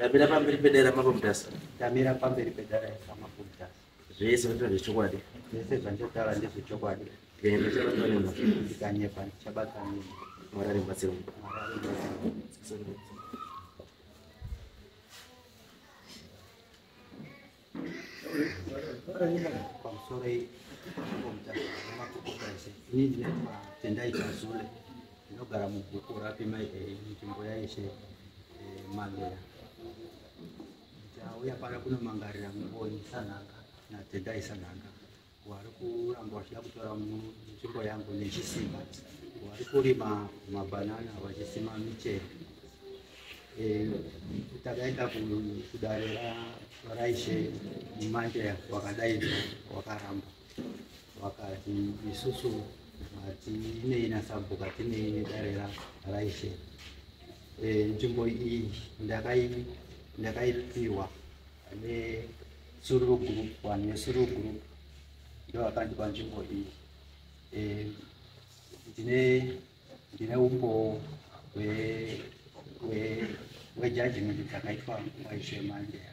Damira pamberi pedare ramapomutasa. Damira pamberi pedare ramapomutasa. Zvese zvinotaura zvechokwadi. Zvese zvandinotaura ndezvechokwadi. Ndikanyepa ndichabata nini. Mwari ari mubatsiro. Mwari ari mubatsiro. pamusoro ikomutaamakokokaise ini ndinoitwa tendai chazule ndinogara mubhuku rapima nzvimbo yaishe mandera ndauya pano kunomangarira ngoni sanhanga natendai sanhanga wari kuramba vachida kutora nzvimbo yangu nechisimba wari kurima mabhanana vachisima michero e, takaenda kudare raishe manje wakadaidza wakaramba wakati isusu hatinei nasabhuka tinei nedare raishe e, nzvimbo iyi ndakaipiwa ne Sururu group vanhu vesururu group ndo vakandipa nzvimbo iyi eh, ndine ndine umbowo hwejajimenti dzakaitwa nguva izvemandeya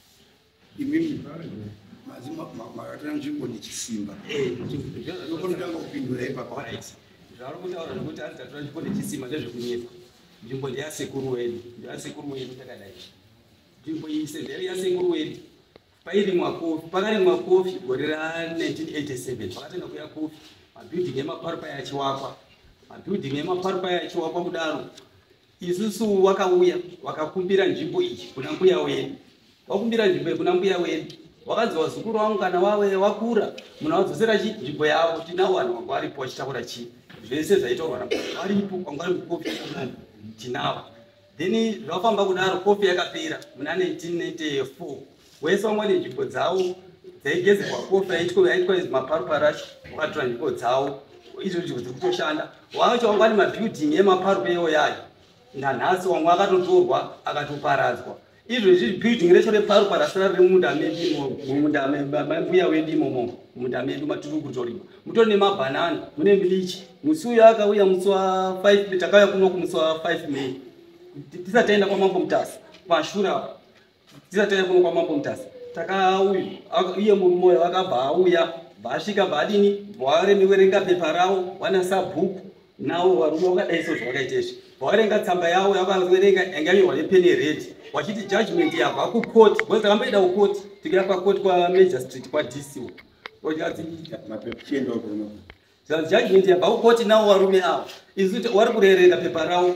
imimi makatira nzvimbo nechisimba ndokonotanga kupindura ipapa zvaari kutaura nokuti ari tatura nzvimbo nechisimba ndezvekunyepa nzvimbo ndeyasekuru wedu ndeyasekuru wedu takadai nzvimbo iyi sevheri yasekuru wedu pairimwa kofi pakarimwa kofi gore ra1987 pakatanga kuya kofi mabuilding emaparupai achiwakwa mabuilding emaparupai achiwakwa kudaro isusu wakauya wakakumbira nzvimbo iyi kuna mbuya wenyu wakumbira nzvimbo iyi kuna mbuya wenyu wakanzi wazukuru wangu kana wave wakura munhu awadzosera chi nzvimbo yavo tinawo vanhu vanga varipo vachitaura chii zvese zvaitorwa na varipo kwanga vari mukofi yemunhu tinawo then zvafamba kudaro kofi yakapera muna 1994 wese vamwe vane nzvimbo dzavo dzaigezerwa kofi yaitwa yaitwa izi maparuparashi wakatora nzvimbo dzavo izvo nzvimbo dziri kutoshanda wacho wanga ane mabuilding emaparupa ewo yayo nanhasi wamwe akatotorwa akatoparadzwa izvo izvi building recho reparuparasi rari remumunda mumunda mbuya wedu imomo mumunda medu matiri kutorima mutori nemabhanana mune milichi musi uyo akauya musi wa 5 takauya kuno kumusi wa 5 may tisati taenda kwamambo mutasa pashura tisati tanya kuno kwamambo mutasa takauya iye moyo akabva auya bvaasvika bvaadini bvawaremewerenga pepa ravo wanasa bhuku nawo varume vakadai so zvavakaita izvi bvawarenga tsamba yavo yavaverenga yanga yamirwa nepene red wachiti judgment yabva kukoti bcause takamboida kukoti tikira kwakoti kwamagistrate kwadc wo judgment yabva kukoti nawo varume avo isu wari kurereka pepa ravo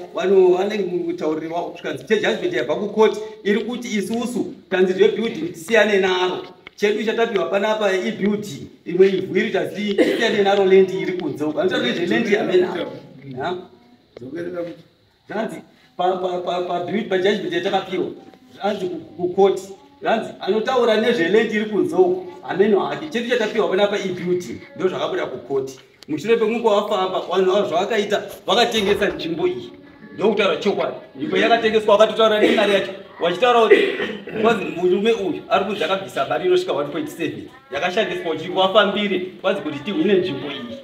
vanenge mutauriri wavo zvikanzi chejudgment yabva kukoti iri kuti isusu tanzi zvebuilding tisiyane naro chedu chatapiwa panapa ibuilding imwe ivhu iri tasi tisiyane naro lendi iri kunze uko anotaura nezveland yamenapo zvanzi paduit pajudgment yatakapiwa zvanzi kukoti zvanzi anotaura nezveland iri kunze uku hameno hake chete chatapiwa panapa ibeauty ndo zvakabuda kukoti mushure pekunge wafamba vanhu vavo zvavakaita vakatengesa nzvimbo iyi ndokutaura chokwadi nzvimbo yakatengeswa vakatotaura nemari yacho vachitaura kuti kwanzi murume uyu ari kunzi akabvisa mari inosvika 1.7 yakashandiswa kuti vafambire kwanzi kuti tihwine nzvimbo iyi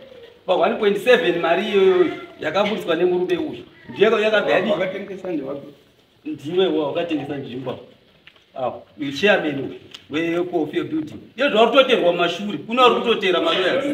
Pa 1.7 mari iyoyo yakaburitswa nemurume uyu ndiyo yakabva yadii? Vakatengesa ndevapi? Ndiwe wakatengesa nzvimbo apa. Ah, uyu chairman uyu wecoffee building iyo zvauri kutoterwa mashure kune vari kutotera maloyers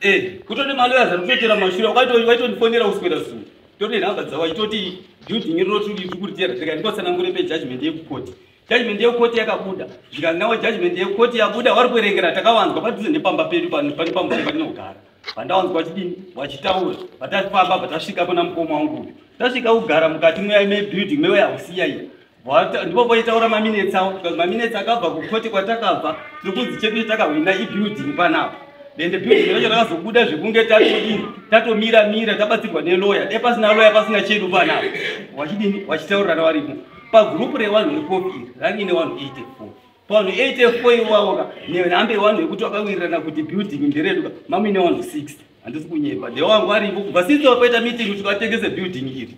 eh, kutone maloyers ari kutotera mashure waitonifonera uswera zuva tone nhamba dzavo itoti building rinoti riri kuritera tikandikotsanangure pejudgment yekukoti judgment yekoti yakabuda zvikanzi nawe judgment yekoti yabuda wari kuerengera takawanzwa padhuze nepamba pedu pane pamba patinogara vandawanzwa vachidini vachitaura vatasifamba vatasvika pana mukoma wangu tasvika kugara mukati mebuilding mewe hausiya iyo ndipo poitaura maminetsi awo because maminetsi akabva kukoti kwatakabva tiri kunzi chedu chetakahwina ibuilding panapa then the building racho rakazobuda zvekunge tatodini tatomira mira tabatsirwa neloya dai pasina loya pasina chedu panapa wachidini wachitaurirana varimo pagroup rewanhu repof iri rangine wanhu 84 vanhu 84 iwawoka nehambe yewanhu yekuti vakawirirana kuti building ndereduka mamine wanhu 60 handisi kunyepa the wangu aripo kubva since wakaita meeting kuti vatengese building iri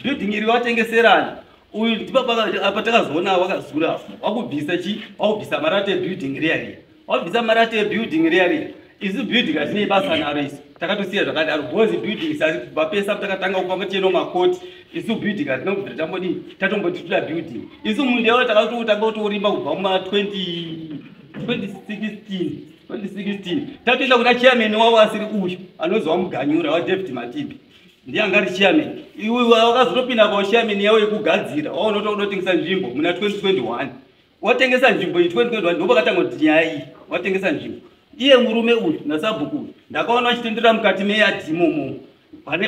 building iri vatengeserani uyu ndipapatakazoona wakazura wakubvisa chi wakubvisa marate building riya riya wabvisa mari yacho yebuilding riya riya isu building hatinei basa naro isu takatosiya zvakadaro bhozi building sasi kubva pesa takatanga kufamba ticheno makoti isu building hatina kubvira tambodii tatomboti toda building isu mundeo takatotanga kutorimba kubva muma 2016 2016 tatoenda kuna chairman wavo asiri uyu anozova muganyura wadavid matimbi ndiye anga ari chairman iwe wakazotopinda pao chairman yavo yekugadzira waunotoda kutotengesa nzvimbo muna 2021 watengesa nzvimbo iyi 2021 ndopakatanga kuti nyaya iyi watengesa nzvimbo iye murume uyu nasabhuku uyu ndakaona vachitenderera mukati meyadhi imomo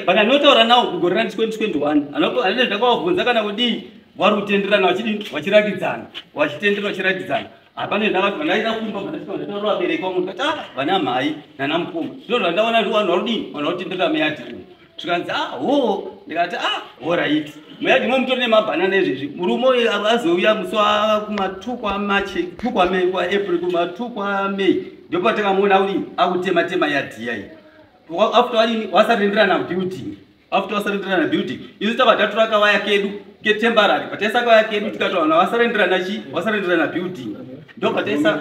pandanotaura nawo kugore ra 2021 anene ndakavabvunza kana kudii vari kutenderana vachidii vachirakidzana vachitendera vachirakidzana hapane ndavati vandaida kumba vandaitaura vabereki vamunhu kati ah vana mhai nana mukoma ndozvandaona kuti vanhu varudii vanhu vakutenderera meyadhi uyu zvikanzi ah hoo ndikati ah horaiti muyadi mo mutori nemabhanana ezvezvi murume uyu azouya musi wakumatukwa machi tukwa mei kwa april kumatukwa mei ndopatakamuona uri akutema tema yadhiya iyi after wadini wasarenderana building after wasarenderana building isu tava tatora kawaya kedu ketembarary pataisa kawaya kedu tikatowana wasarenderana chi wasarenderana building ndopataisa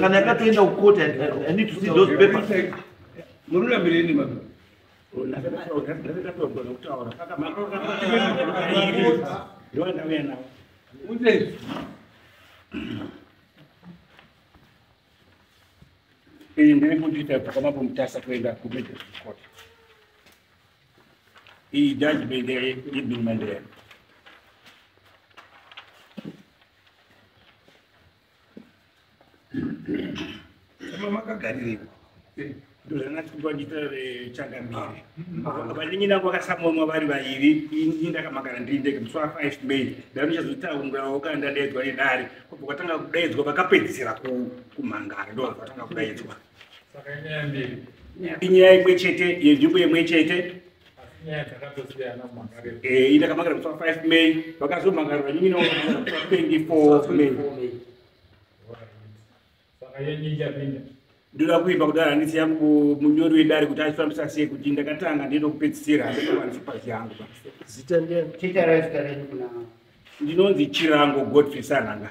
kana yakatoenda kukoti i need to see those papers mururambireni mama iyi ndiri kundita pakama pomutasa kuenda kumedecourt iyi judgment yeibin mandera Kama makagarire ndozvanatikupanditorere changamire vaningi nangu vakasamonwa vari vairi ini ndakamagara ndiri ndege musi wa 5 may ndanichazotaungirawo kana ndadaidzwa nedare kubva kwatanga kudaidzwa vakapedzisira kumhangara ndo vatanga kudaidzwa inyaya imwe chete yenzvimbo imwe chete Eh, ita kamagara kutswa 5 may vakazomagara vanyinyi nao kutswa 24 may ndoda kuimba kudai handisi yangu munyori wedare kuti achifambisa sei kuti ndakatanga ndinoda kupedzisira handinovanisopazi yangu ndinonzi chirango godfrey sanhanga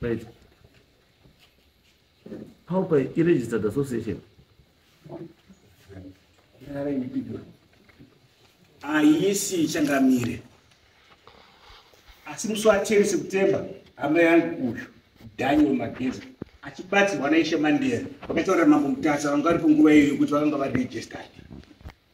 Right. How by registered association? Ayisi changamire. Asi musi wacheri September hama yangu uyu Daniel Mageza achibatsirwa naIshe Mandela vakataura mambo Mutasa vanga vari panguva iyo yokuti vakanga varegistered.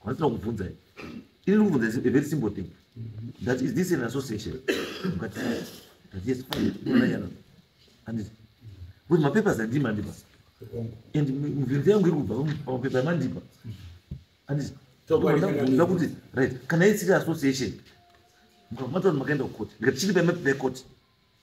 Kwandisina kuvhunza ini. Ini ndikuvhunza is a very simple thing. That is this an association. Mukati that yes fine. Ndinayana. Anditi. But mapapers andima andipa. And mivhinzi yangu iri kubva pamapepa amandipa. Anditi. Ndakuvhunza kuti right kana isiri association. Mukamata kuti makaenda kukoti. Ndikati chiri pamapepa ekoti.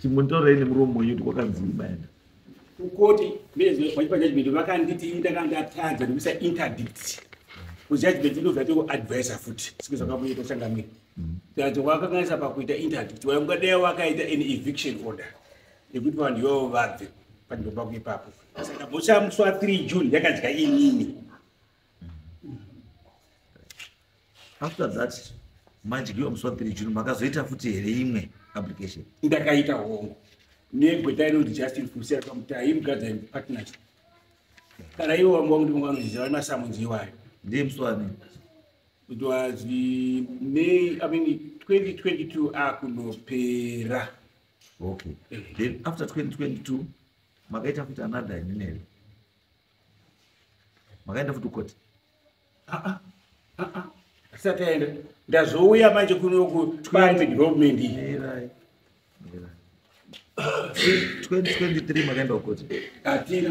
chimutorei nemuromo wenyu kuti kwakanzi imaenda kukoti nezvepajajment vakanditi ndakandatadza nekuisa interdict kujajment inozatiwo advisor futi sike zvakamuita changamiri tadzo mm. wakakanisa pakuita interdict waungadai wakaita an eviction order yekuti vanhu ivavo vabve panzvimbo pako ipapo saka bochamuswa 3 june yakadya inini after that madyiwa musi wapiri june makazoita futi here imwe application ndakaita hongo negweta inonzi justin fusia kamutai mugadza partners kana ivo vamwe vakuti vamwe vanoziva vane masamunzi iwayo ndiye musi wani it was may i mean 2022 akunopera okay eh. then after 2022 makaita futi another inenere makaenda futi koti ah, ah, ah, asati aenda ndazouya manje kunoku twaime development iyi makaenda kukoti atina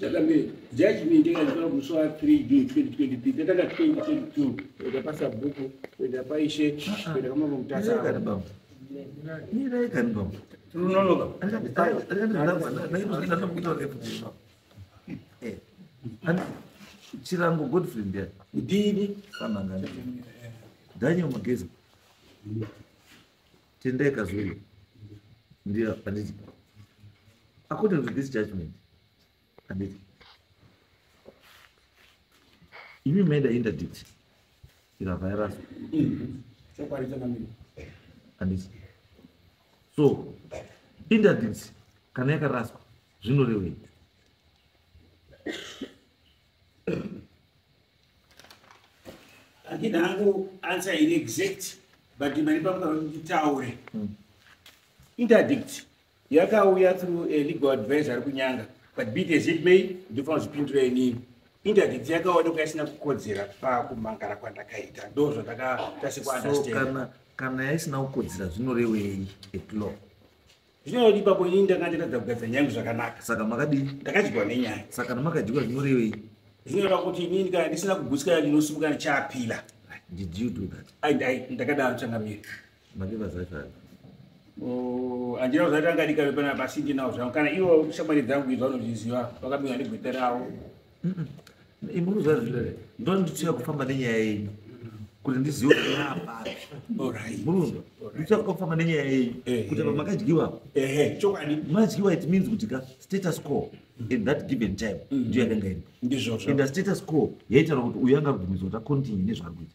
Jagambe, judgment yakaitwa musi wa 3 June 2023 tatanga 2022 kuenda pasabhuku kuenda paishe kuenda kwamambo mutasa Kana baba. Ni naye kana baba. tinononoka chirango godfrey ndiya kudini fanangana daniel mageza tendeka zuri ndio anditi according to this judgment anditi imi maida interdict ira virus anditi so interdict kana yakaraswa zvinorevei handina hangu answer iri exact but mari pamukaitaure hmm. interdict yakauya through a legal advisor ari kunyanga but bit as it may ndofana zvipindura inini interdict yakaonekwa isina kukodzera pakumangara kwandakaita ndo zvandakatasikwa understand kana yaisina kukodzera zvinorevei at law Zvino odi babo ini ndanga ndatadza kugadzira nyaya yangu zvakanaka. Saka makadii? Ndakadyiwa nenyaya. Saka namakadyiwa zvinorevei? Zvinoreva kuti ini ndikana ndisina kugutsikana ndinosimuka ndichaapila. Did you do that? Ai dai ndakadaro changamire. Makiva zvaifana. Oh, andina kuzati angadika vepana pasindi nawo zvangu kana iwo shamwari dzangu idzo vanozviziva vakamira ndigweta rawo imuruzva zvire ndonditsuya kufamba nenyaya yenyu kuti ndizive kuti yaapapi murunzwa nditsuya kufamba nenyaya yenyu kuti apa makadyiwa chokwadi madyiwa it means kuti ka status quo in that given time mm-hmm. ndiyo yakanga iri ndizvozvo and the status quo yaitaura kuti uyu anga kubvumidzwa kuti acontinue nezvaari kuita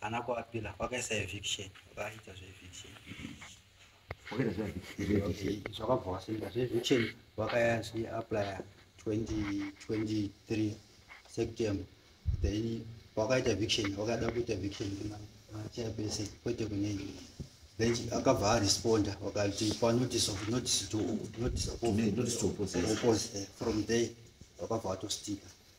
Ana kuapila kwakaisa eviction vakaita zveeviction wakaita zveeviction zvakabva wasinda zveeviction vakayazvi aplya 2023 september then wakaita eviction wakada kuita eviction kumachairperson kwete kunei then akabva aresponda wakati panotice of notice to notice of oppose from there wakabva watostika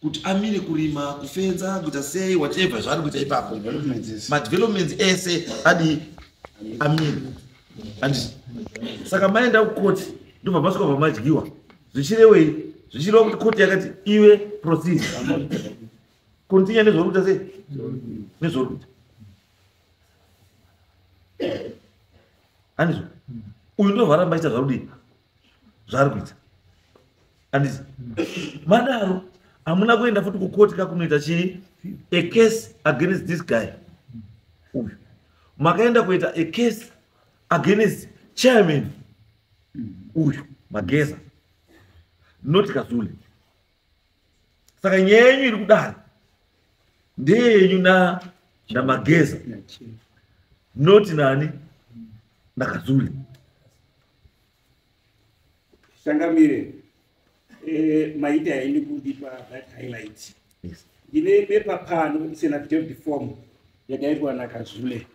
kuti amire kurima kufenza kuita sei whatever zvaari kuita ipapo madevelopments ese adi amire and saka maenda kukoti ndobva masvika pamadyiwa zvichirewei zvichireva kuti koti yakati iwe proceed continue nezvauri kuita sei nezvauri kuita andizvo uyu ndovharamba ita zvarudii zvaari kuita andisi madaro hamuna kuenda futi kukoti kakunoita chii a case against this guy uyu makaenda kuita a case against chairman uyu mageza not kazule saka nyaya yenyu iri kudaro ndeyenyu na namageza not nani nakazuli changamire eh, maita yaini kundipa that highlight yes. ndine bepa pano it's an affidavit form yakaitwa nakazule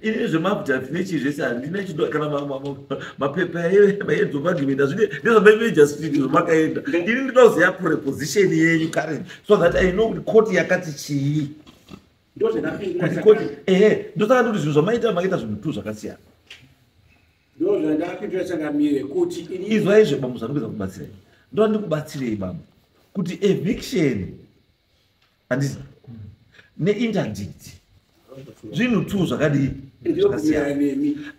ini zvemafuta tine chii zvese handina chido kana mapepa maedzwa magimenda zvine ndezvamaimeja street zvamakaenda ini ndinoda kuziva preposition yenyu karen so that i know kuti koti yakati chii koti ehe ndosaka ndikuti zvinhu zvamaita makaita zvinhu two zvakasiyana izwai zve bambo zvanokeza kubatsirei ndoda ndikubatsirei bambo kuti eviction handizi neinterdict zvinhu two zvakadii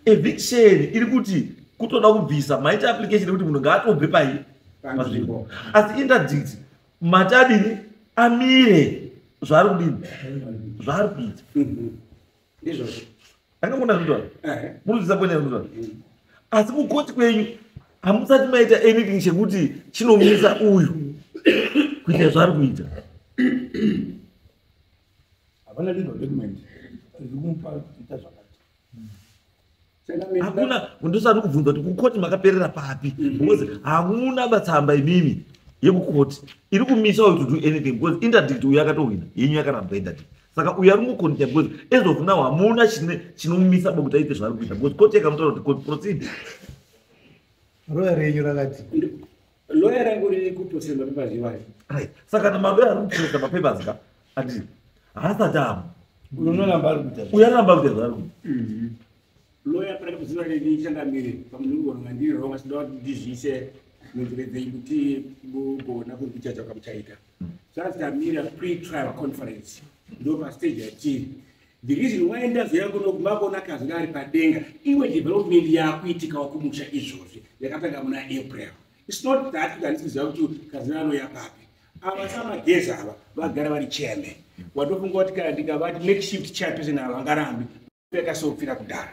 eviction iri kuti kutoda kubvisa maita application ekuti munhu ngaatobve pai panzvimbo asi interdict mati adini amire zvaari kudini zvaari kuita mm-hmm. ndizvozvo akamona zvitona murudzisa kwene zvitona asi kukoti kwenyu hamusati maita anything chekuti chinomisa uyu kuita zvaari kuita havana legal document iri kumupa kuita zvakati hakuna ndosati kubvunza kuti kukoti makaperera papi mhm. because hamuna batsamba imimi yekukoti iri kumisa uyu to do anything because interdict uyo akatohwina yenyu yakaramba interdict saka uyo ari kungokonita because as of now hamuna chinomumisa bokuti aite zvaari kuita because koti yakamutaura kuti proceed roya renyu rakati Lawyer rangu riri kutosira mapapers iwayo. Right. Saka na malawyer ari kutosira mapapers ka? Ati haasati amu. Unoramba ari kuita. Uyaramba ari kuita. Mhm. Lawyer pari kuziva riri changamire pamunhu wanga ndiri wrong asi ndava kuti ndizvise munzira dzenyu kuti mugona kundicha zvakamuchaita. Sasa mm. tamira pre-trial conference. Ndova stage yatiri. The reason why ndazouya kuno kumakuona kazi ari padenga imwe development yakuitikawo kumusha izvozvi yakatanga muna april its not that kuti handisiziva kuti kazi anouya papi ava samageza ava vagara vari chairman watofunga kuti kana ndikavati make shift chairperson ava vangarambi yakasofira kudhara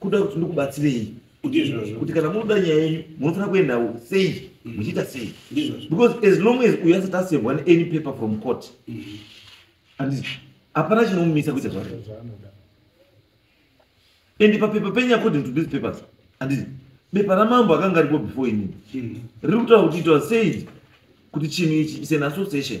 kuda kuti ndikubatsirei kuti kana munoda nyaya yenyu munofanira kuendawo sei mm. muchiita sei because as long as uyo asati asevwa any paper from court mm. and hapana chinomumisa kuita zvake and papepa penyu according to these papers andii bepa ramambo akanga aripo before inini mm. riri kutaura kuti itawa said kuti chinhu ichi is an association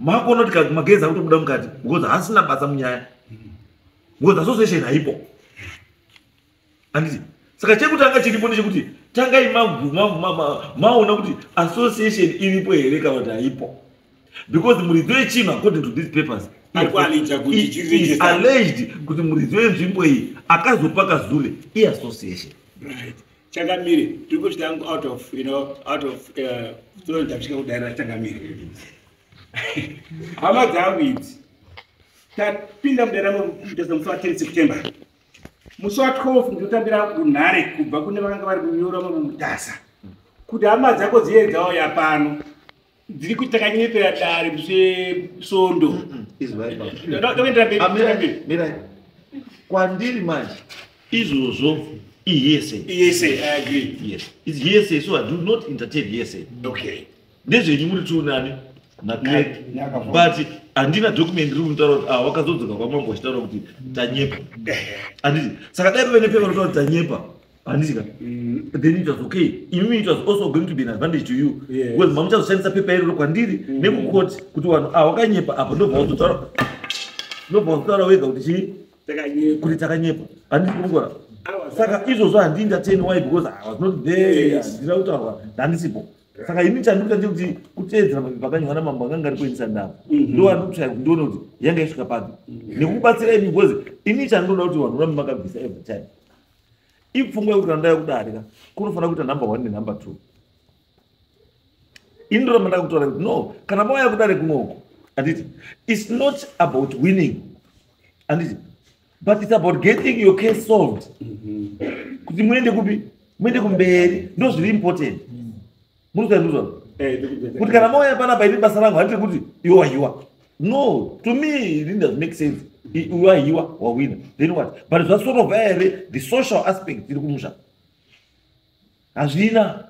makuona kuti kati magezi akutobuda mukati because haasina basa munyaya because association haipo anditi saka chekutanga chiripo ndechekuti tangai maona kuti association iripo here kana kuti haipo because muridzo yechima according to these papers is alleged kuti muridzo yenzvimbo iyi akazopa kazule iassociation right. changamire tiri kusvika yangu out of you know out of uh, so ndasvika kudaira changamire hama dzangu idzi tapinda mudaira mutesa musi wa 10 september musi wa 12 ndotambira kunhare kubva kune vakanga vari kunyora mumutasa kuti hama dzako dziye dzauya pano dziri kuti takanyepera dare musvesondo izvaiamirai kwandiri manje izvozvo ihesayihesayiso so i do not entertain hesayi ndezvenyu muri tiunani but handina document riri kutaura kuti ah, wakazodzoka kwamambo achitaura kuti tanyepa handiti saka dai pavene pevanotaura kuti tanyepa handisika mm. then it was okay imimi it was also going to be an advantage to you because mamuchazoshandisa pepa iroro kwandiri mm. nekukoti kuti vanhu ah wakanyepa apa ndobva wazotaura ndobva wazotaura wega kuti chii kuti takanyepa handisi kungora saka izvozvo handii ndateni why because i was not there handina kutaurwa ndandisipo saka ini chandikuta ndekuti kuteedzera mapepa akanyorwa namambo akanga ari kuendisa ndava mhm. ndoanotsvaya kuti ndione kuti yanga isvika papi mhm. nekubatsira ini because ini chandoda kuti vanhu vambi makabvisa every time ipfungwa yekuti andaya kudarika kunofanira kuita number one nenumber two ini ndoramba ndakutaura kuti no kana mauya kudare kunoko anditi its not about winning anditi but its about getting your case solved mm-hmm. kuti muende kupi muende kumberi ndozviri important murikuzaizvozvano eh, kuti kana mauya panapa iri basa rangu handiti kuti iwe wahiwa no to me it doesn't make sense iwe wahiwa wawina then what but zvasorova here the social aspect iri kumusha hazvina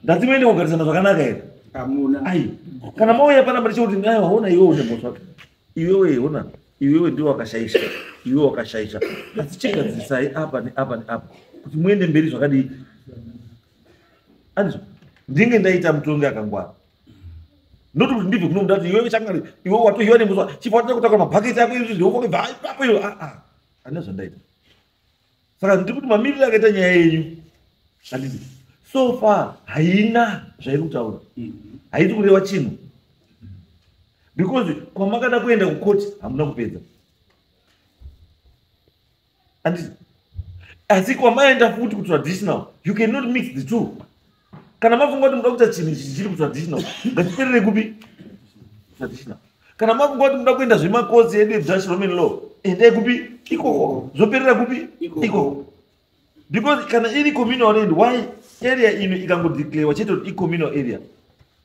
ndati muende kugarisana zvakanaka here amuna ai kana mauya panapa ndichekuti ai waona iwe une moto wake iwewe ona iwewe ndiwe wakashaisha iwewe wakashaisha asi chigadzisai apa neapa neapa kuti muende mberi zvakadii anzwa ndinge ndaita mutongi akangwara not kuti ndibve kuno mudati iwe changari iwe watohiwa nemuswa chifa watata kutakura mabhaketi ako izvi zveufake bva ipapo iyo aa ah, ah. ane zvandaita saka ndiri kuti mamiriro akaita nyaya yenyu andidi so far haina zvairi kutaura mm-hmm. haiti kureva chinhu because kwamakada kuenda kukoti hamuna kupedza anditi asi kwamaenda futi kutraditional you cannot mix the two kana mafunga kuti muda kuita chinhu ichi chiri kutraditional ngatiperere kupi traditional kana mafunga kuti muda kuenda zvemakosi edu edutch roman law endai kupi ikoko zvoperera kupi ikoko because kana iri communal land why area ino ikangodeclarewa chete kuti icommunal area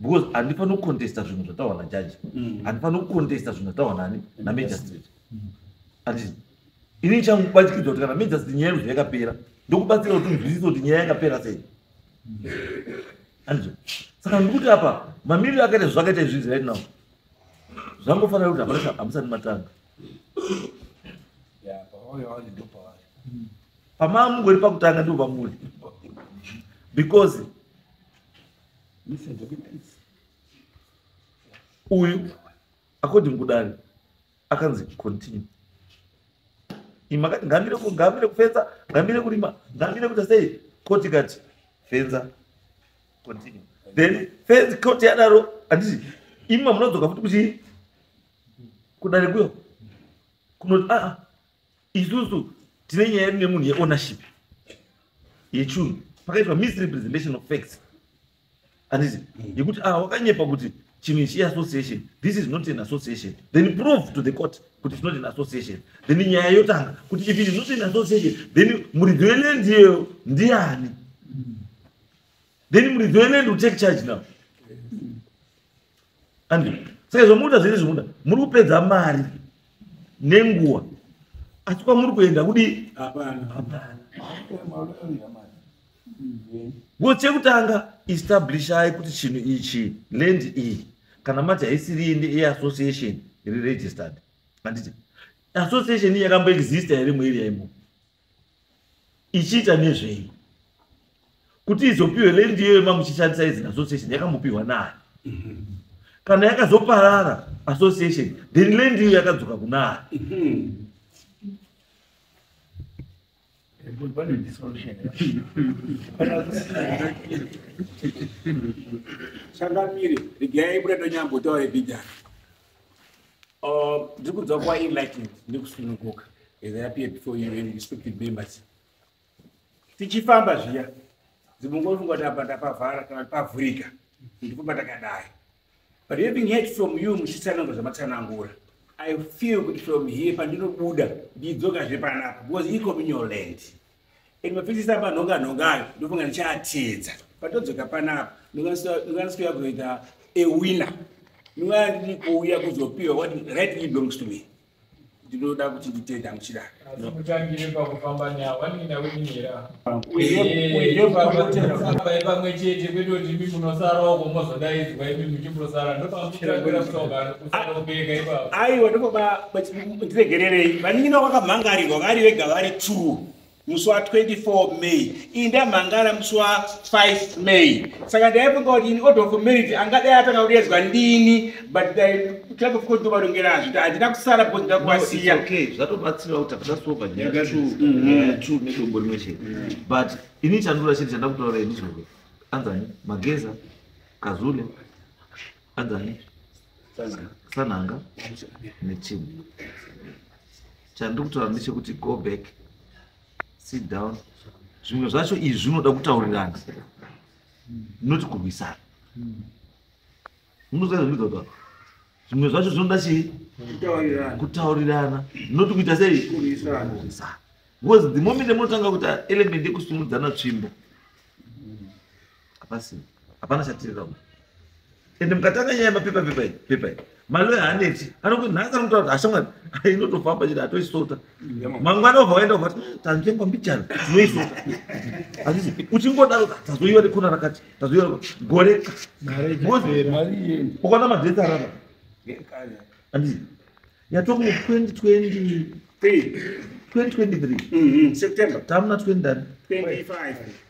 because handifani kucontesta zvinhu zvataurwa najaji mm. handifani kucontesta zvinhu zvataurwa nani namagistrate mm. andii ini ndichakubatikidza kuti kana magistrate nyaya yekuzva yakapera ndokubatsira kuti unzwisise kuti nyaya yakapera sei mm. andizvo saka ndikuti apa mamiriro akaita zvakaita izvizvi right now zvangofanira kuti hapana hamusani matanga pamamungori pakutanga ndivo vamuri because uyu according kudare akanzi continue imakati ngamire ngamire kufenza ngamire kurima ngamire kuita sei koti kati fenza continue then fenzi koti yadaro handiti imi mamunodzoka futi kuchii kudare kuyo kunoti aa ah, ah, isusu tine nyaya yedu nemunhu yeownership yechunhu pakaitwa misrepresentation of facts anditi mm. yekuti ah wakanyepa kuti chinhu ichi iassociation this is not an association then prove to the court kuti it's not an association then nyaya yotanga kuti if it is not an association then muridzi weland iyeyo ndiani then muridzi weland will take charge now Andrew, saka zvamunoita zviri zvimuda muri kupedza mari nenguva asi kwamuri kuenda kudi ngo chekutanga establishai kuti chinhu ichi land iyi kana mati haisiri inde eassociation iri registered handiti association iyi yakamboexista here mueria imo ichiita nezvei kuti izopiwe lendi iyoyo mamuchishandisa izina association yakambopiwa naani kana yakazoparara association then lendi iyo yakadzoka kunaani changamire regai buda ndonyambotaure bhijana Uh, ndiri kunzwa kuva enlightened nekusununguka as i appear before you and respected members tichifamba zviya dzimungofunga kuti apa ndapavhara kana pavhurika ndipo pandakadai but having heard from you muchitsanangura zvamatsanangura i feel kuti from here pandinobuda ndidzokazve panapa because ikominyoland Imwe pfisisa panhonga nhonga ayo ndofunga ndichaatedza patodzoka panapa ndinganisikuya kuita a winner ndingaya ndiri kuuya kuzopiwa what right me belongs to me ndinoda kuti nditenda muchida mutangire pakufamba nyaya wandina winira uyefambai pamwe chete kwete kuti imi munosarawo komozodaidzwa imi muchimosara ndopamuchitangira musongano aiwa ndobaba ndiregererei vanin'ina vakamhangarirwa vari vega vari two musi wa 24 may iyi ndamhangara musi wa 5 may saka ndaifunga kuti ini order of marriage angadai atanga kudedzwa ndini but club of condovarongera zviti handina kusara because ndakuvasiya zvatobatsira kuti hapana sova nyaya two mhm. nedombo rimwe chete mhm. but ini chandura chete chandakutoraura ini zvove anzani mageza kazule agani sanhanga neteam chandiri kutaura ndechekuti go back sit down zvimwe zvacho izvi zvinoda kutaurirana not kurwisana munoziva zvimwe zvacho zvinoda chii kutaurirana not kuita sei kurwisana because the moment munotanga kuita element yekusimudzana tsvimbo hapasina hapana chatirira uku ende mukatanga nyaya yemapepa pepa iyi pepa iyi maloya haneti anokuti nhasi anotaura kuti hashamwari inotofamba chete atoisota mangwana obva waenda uvati hmm, tanzvengwa mbijana tinoisota hazvisi uchingodaro tazoiwa nekona rakati tazoiwa gore ukaona madhesi arara handii yatoku 2020 2023 tamuna 20 25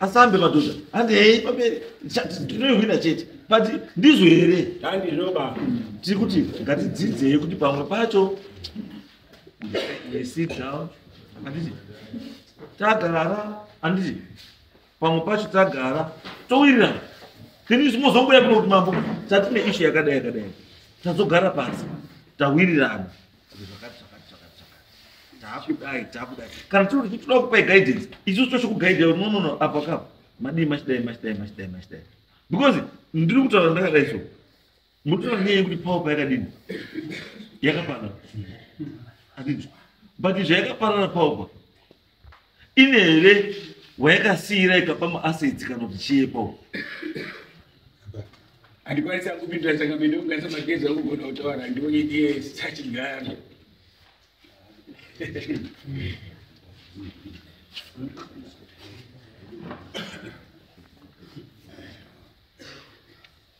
asambe madhodha handi hei pamberi ndinoihwina chete but ndizvo here tiri kuti ngatidzidzei kuti pamwe pacho anditi tagarara anditi pamwe pacho tagara towirirana then zvimozongoya kuno kuti mambo tatine ishu yakadai yakadai tazogara pasi tawirirana zvakati zvakati zvakati zvakati takudai takudai kana tiri kuti toda kupai guidance isusu tosho kugaida no no no apa kapa madii machidai machidai machidai machidai because ndiri kutaura ndakadai so mutoona nyaya yekuti power payakadini yakaparara andinzwa but zvayakaparara power pa ine here wayakasiira ikapa muasedzi kana kuti chiepo handikwanisa kupindura saka mene kugasa magezi akugona kutaura ndione ndiye sachigara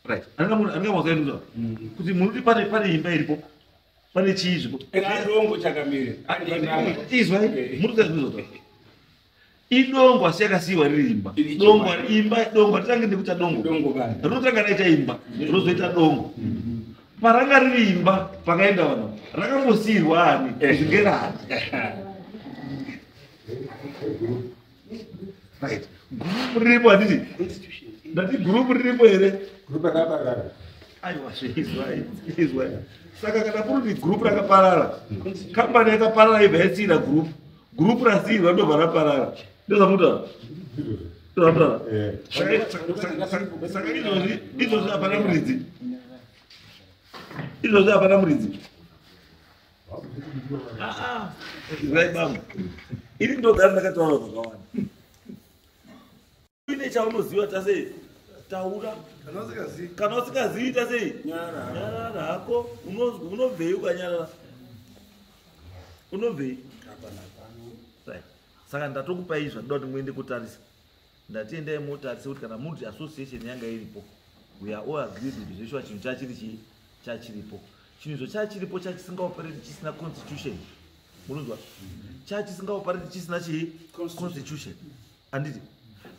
right anenge munhu anenge mwazoendwa kuti munoti pane pane imba iripo pane chii zvikuidongo chakamire izwa murikuzazvizota idongo asi yakasiiwa riri imba dongo imba dongo hatitange nekuita dongo rinotanga raita imba rozoita dongo paranga riri imba pakaenda vanhu rakambosiirwa ani zvingerani right group riripo handiti ndati group riripo here group rakaparara aiwa zveizwa saka kana kuri kuti group rakaparara kambani yakaparara ibva yasiira group group rasiirwa ndobva raparara ndozvamutaura ndozvamutaura eh. saka izvozvi izvozvi hapana muridzi izvozvi hapana muridzi Zvirai bambo. Iri ndogara ndakataura zvakawanda. Uine chaunoziva tase taura. Kana usikazivi tase nyarara hako unobvei ukanyarara. Unobvei. Saka ndatokupai zvakuda kuti muende kutarisa. ndati endai motarise kuti kana multi association yanga iripo we are all agreed kuti zveshuwa chinhu chachiri chii chachiripo chinhu izvo chachiripo chachisingaoperate chisina constitution munonzwa chachisingaoperate chisina chii constitution anditi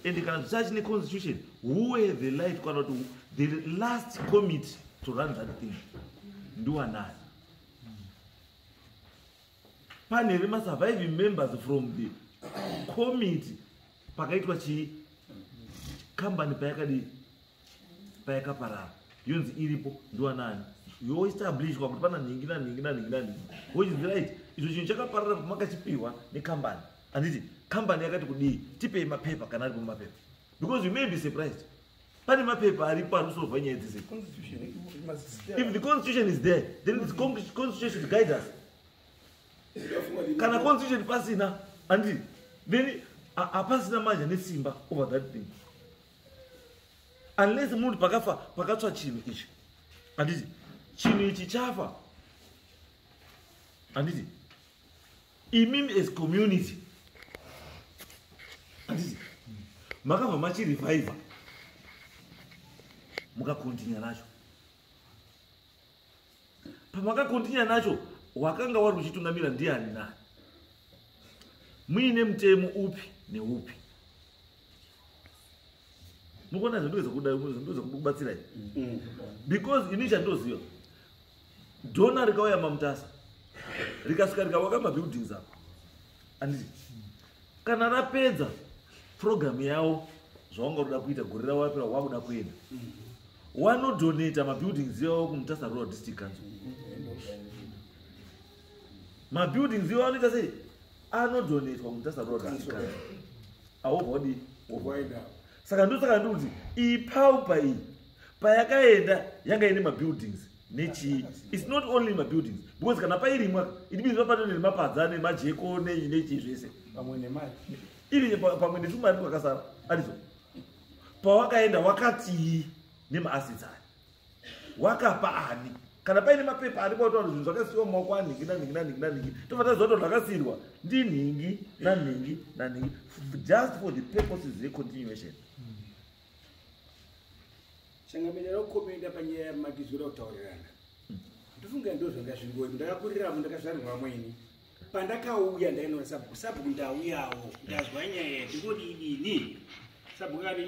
and kana zvichachine constitution who have the light kana kuti the last committee to run that thing ndiwanani pane remasurviving members from the committee pakaitwa chii kambani payakadii payakaparara yonzi iripo ndiwanani yoestablishwa kuti pana nhingi nanhingi nanhingi nanhingi which is right izvo chinhu chakaparara kuti makachipiwa nekambani handiti kambani yakati kudii tipei mapepa kana aripo mapepa because you may be surprised pane mapepa aripo ari kusolva nyaya dzese if the constitution is there then the constitution should guide us kana constitution pasina andi then hapasina manja nesimba over that thing unless munhu pakafa pakatswa chinhu ichi anditi chinhu ichi chafa anditi imimi as community anditi makabva machirevivha mukakontinya nacho pamakakontinya nacho wakanga wari uchitungamira ndiani nani muine mutemo upi neupi mukuona zvindozokubatsirai mm. because ini chandoziva dona rikauya mamutasa rikasvika rikawaka mabuildings apo anditi kana rapedza program yawo zvaunga uda kuita gore ravo rapera wakuda kuenda wanodonata mabuildings iwawo kumutasa rural district kanzo mabuildings iwawo anoita sei anodonatwa kumutasa rural district kanzo awobva wadii saka ndosaka ndikuti iyi paupa iyi payakaenda yanga ine mabuildings nechii its not only mabuildings because kana pairimwa it means vapano nemapadza nemajeko nei nechii zvese pamwe nemari iri pamwe netumari twakasara arizo pawakaenda wakatii nemaassets aya wakapa ani kana paine mapepa ari kwautaura zvinhu zvakasiiwa mumaoko anhingi nanhingi nanhingi nanhingi tobva taziva kuti zvakasiirwa ndinhingi nanhingi nanhingi just for the purposes recontinuation mm. changamira rokomenda panyaya yamatizo oda kutaurirana ndofunga ndo zvanga zvingoyi ndakakuriravo ndakazvarirwa vamwe ini pandakauya ndainona sabhuku sabhuku ndauyawo ndazwa nyaya ndingodidini sabhuku kati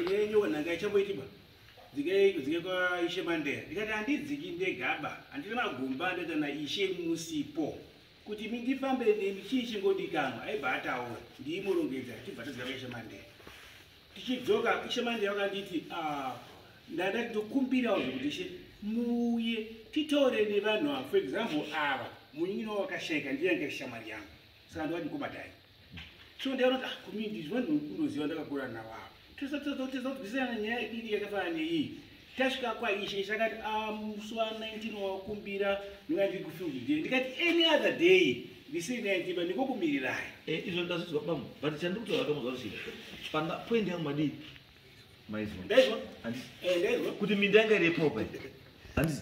nyenyoka nhanga ichamboitiba dzike kwaishe mandera ndikati handidziki ndegaba handiri magumba ndoita na ishe musipo kuti mindifambe nemi chii chingodikanwa aibva ataura ndiimurongedza tibva todzika kwaishe mandera tichidzoka ishe manje vakanditi ah, ndada ndokumbirawo zvekuti ishe muuye titaure nevanhu ava for example ava munyinwa wakashaika ndiyange shamwari yangu saka ndovati kubatai so ndaanoti ah, community zvivanhu unoziva ndakakura navo ava tosatizotizotwisana nyaya iri yakafanana neiyi tasvika kwaishe ishe akati ah, musi wa 19 wakumbira ndinga ndiri kufield day ndikati any other day ndisiri naitiba ndikokumirirai eh, izvo ndazvizwa bambo but chandiri kutaura kamuzwa rusi panga point yangu madii maizwa ndaizwa eh, kuti minda yanga iri yepopa handisi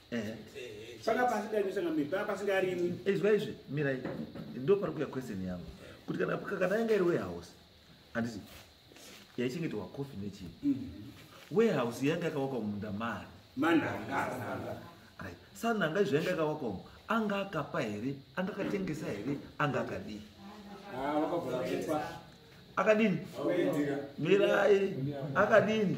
panga pasingaisanga miri panga pasingarimwi izwa izvi mirai ndo pari kuya question yangu kuti kana kana yanga iri warehouse handiti yaichengeterwa cofi nechii mm-hmm. warehouse yanga yakawakwa mumunda mari mananga right sananga izvo yanga yakawakwa mu anga akapa here anga akatengesa here anga akadii ah, akadini mirai akadini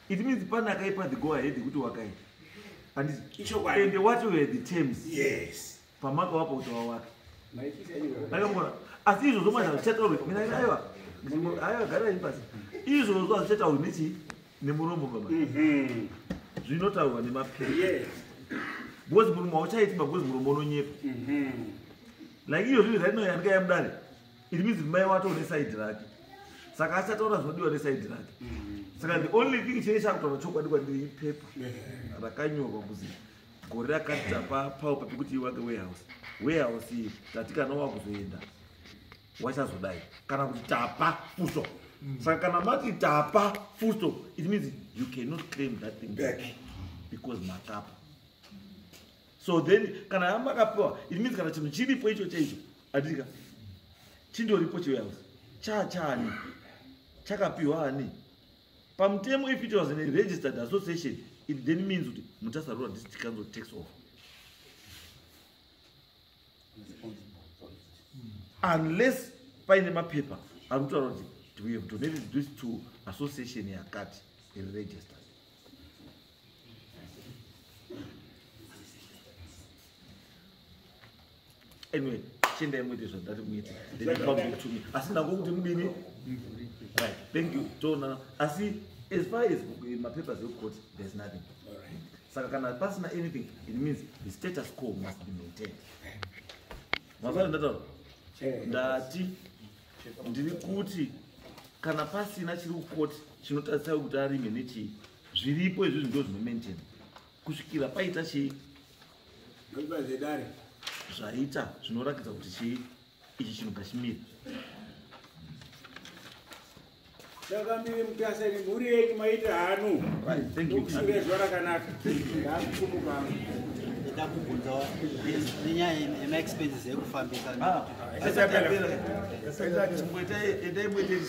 it means pane akaipa the go ahead yekuti wakaita andizende watove the terms yes pamaka wapa kuti wawaka akamona asi izvozvo mwana zvichataurwe mina aiwa aiwa gara ipasi izvozvo hazvichataurwe nechii nemuromo baba mhm. zvinotaurwa nemapiri because murume hauchaiti magozi murume unonyepa mhm. like iyo zvinhu zvainoyanika yamudare it means mai wato une side rake saka achataura zvinodiwa neside rake mm. saka the only thing chee chakutaura chokwadi kwandiri ipepa rakanyorwa kuzi gore rakati tapa paupa pekuti iwake warehouse warehouse iyi tati kana wakuzoenda wachazodai kana kuti tapa fuso mm. saka kana mati tapa fuso it means you cannot claim that thing back because matapa so then kana hama akapiwa it means kana chinhu chiripo icho chaicho adika chindoripo chiwehouse chaa chaani chakapiwa ani pamutemo if it was in a registered association it then means kuti mutasa rural district council takes off unless paine mapepa ari kutaura kuti we have donated this to association yakati iri registered anyway chiendai muite zvandati muite ndinaautumi asi nako kuti mudini right thank you toonana asi as far as mapapers ekukoti there's nothing saka kana pasina anything it means the status quo must be maintained mafana ndataura ndati ndiri kuti kana pasina chiri kukoti chinotarisai kuti arime nechii zviripo izvozvi ndo zvinomaintaina kusvikira paita chii zvedare zvaita zvinoratidza kuti chii ichi chinhu ngachimiri takamiri mutasa ini mhuri yenyu maita hanu kushure zuva rakanaka ndakukumuka ndakubvunza nenyaya yemaexpenses ekufambisa ah, ah, ah,